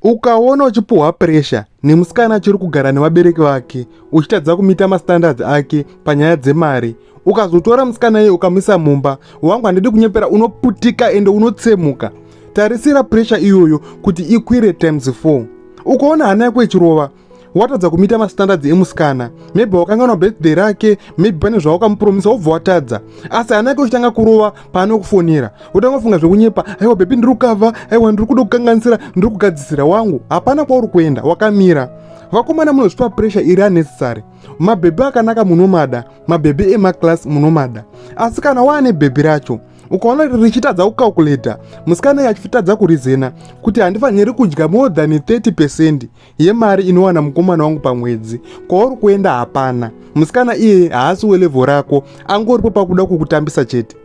ukaona uchipuhwa puresha nemusikana achiri kugara nevabereki vake uchitadza kumita mastandards ake panyaya dzemari ukazotora musikana iye ukamuisa mumba wangu handidi kunyepera unoputika ende unotsemuka tarisira puresha iyoyo kuti ikwire times 4 ukaona hana yako ichirova watadza kumita mastandards emusikana maybe wakanganwa birthday rake maybe pane zvawakamupromisa wobva watadza asi hana yake uchitanga kurova paanokufonera wotanga kufunga zvekunyepa aiwa bebi ndiri kukava aiwa ndiri kuda kukanganisira ndiri kugadzisira wangu hapana kwauri kuenda wakamira vakomana munozvipa pressure iri unnecessary mabhebhi akanaka munomada mabhebhi emaclass munomada asi kana waane bhebhi racho ukaona richitadza kucalculator musikana yachitadza kurizena kuti handifaniri kudya more than 30 percent yemari inowana mukomana wangu pamwedzi kwauri kuenda hapana musikana iye haasi welevo rako angoripo pakuda kukutambisa chete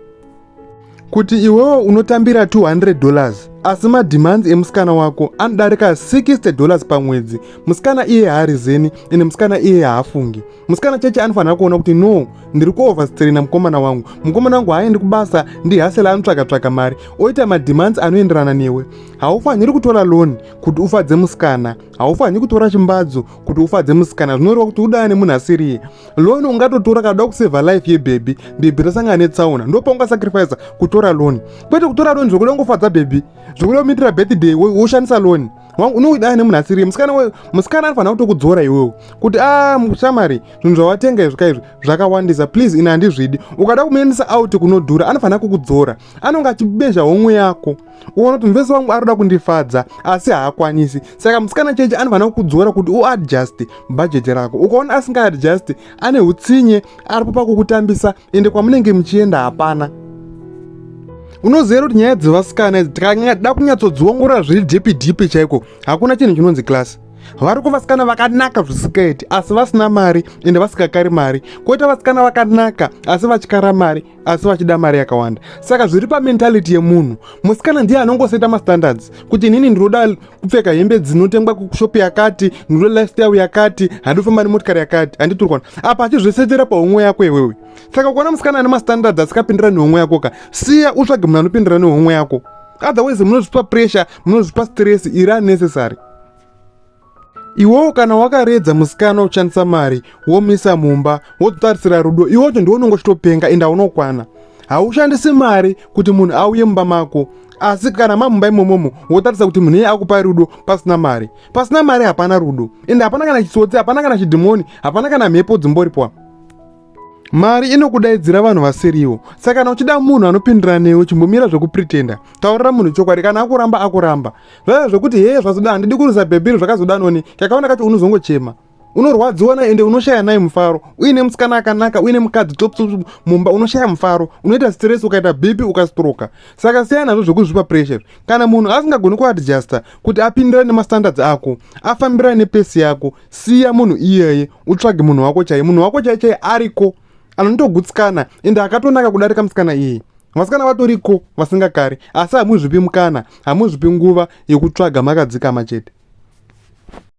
kuti iwewo unotambira 200 dollars asi mademands emusikana wako anodarika 60 dollars pamwedzi musikana iye haari zeni ende musikana iye haafungi musikana cheche anofanira kuona kuti no ndiri kuoverstraina mukomana wangu mukomana wangu haaendi kubasa ndihasela anotsvaka tsvaka mari oita mademands anoenderana newe haufaniri kutora loni kuti ufadze musikana haufanhi kutora chimbadzo kuti ufadze musikana zvinoreva kuti udana nemunhu asiriye loni ungatotora kana uda kusevha life yebhebhi bhebhi rasangana netsaona ndo paungasacrifice kutora loni kwete kutora loni zvokuda kungofadza bhebhi zvokuda kumitira birthday woshandisa loni unoidana nemunhu asiriye musikana anofanira kutokudzora iwewo kuti a ah, mushamari zvinhu zvawatenga izvi ka izvi zvakawandisa please ini handizvidi ukada kumuendesa out kunodhura anofanira kukudzora anonge achibezha homwe yako uona kuti muvesi wangu arikuda kundifadza asi haakwanisi saka musikana cheche anofanira kukudzora kuti uadjust bhajeti rako ukaona asingaadjust ane utsinye aripo pakukutambisa ende kwamunenge muchienda hapana unozivera kuti nyaya dzevasikana idzi tikada kunyatsodziongorora zviri dhipi dhipi chaiko hakuna chinhu chinonzi klasi vari kuvasikana vakanaka zvisikaiti asi vasina mari ende vasikakari mari koita vasikana vakanaka asi vatyara mari asi vachida mari yakawanda saka zviri pamentality yemunhu musikana ndiye anongoseta mastandards kuti inini ndinoda kupfeka hembe dzinotengwa kushop yakati ndinoda lifestyle yakati handifamba nemotikari yakati handiturikwana apa achizvesetera pahomwe yako iwewe saka ukaona musikana ane mastandards asikapindira nehomwe yako ka siya utsvage munhu anopindira nehomwe yako otherwise munozvipa pressure munozvipa stress iri unnecessary iwowo kana wakaredza musikana uchishandisa mari womisa mumba wototarisira rudo iwocho ndiwo unonge uchitopenga enda unokwana haushandisi mari kuti munhu auye mumba mako asi kana mamumba imomomo wotaridza kuti munhu iye akupa rudo pasina mari pasina mari hapana rudo ende hapana kana chitsotsi hapana kana chidhimoni hapana kana mhepo dzimboripwa mari inokudaidzira vanhu vasiriwo saka kana uchida munhu anopindira newe chimbomira zvekupretenda taurira munhu chokwadi kana akuramba akuramba zvaiva zvekuti hee zvazoda handidi kurisa bhebhiri zvakazoda noni kakaona kacho unozongochema unorwadziwa naye ende unoshaya naye mufaro uine musikana akanaka uine mukadzi topso mumba unoshaya mufaro unoita stress ukaita bp ukastroka saka siyana nazvo zvekuzvipa pressure kana munhu asingagoni kuadjusta kuti apindirane nemastandards ako afambirane nepesi yako siya munhu iyeye utsvage munhu wako chaiye munhu wako chaiye chaiye ariko anondogutsikana ende akatonaka kudarika musikana iyi vasikana vatoriko vasingakari asi hamuzvipi mukana hamuzvipi nguva yekutsvaga makadzikama chete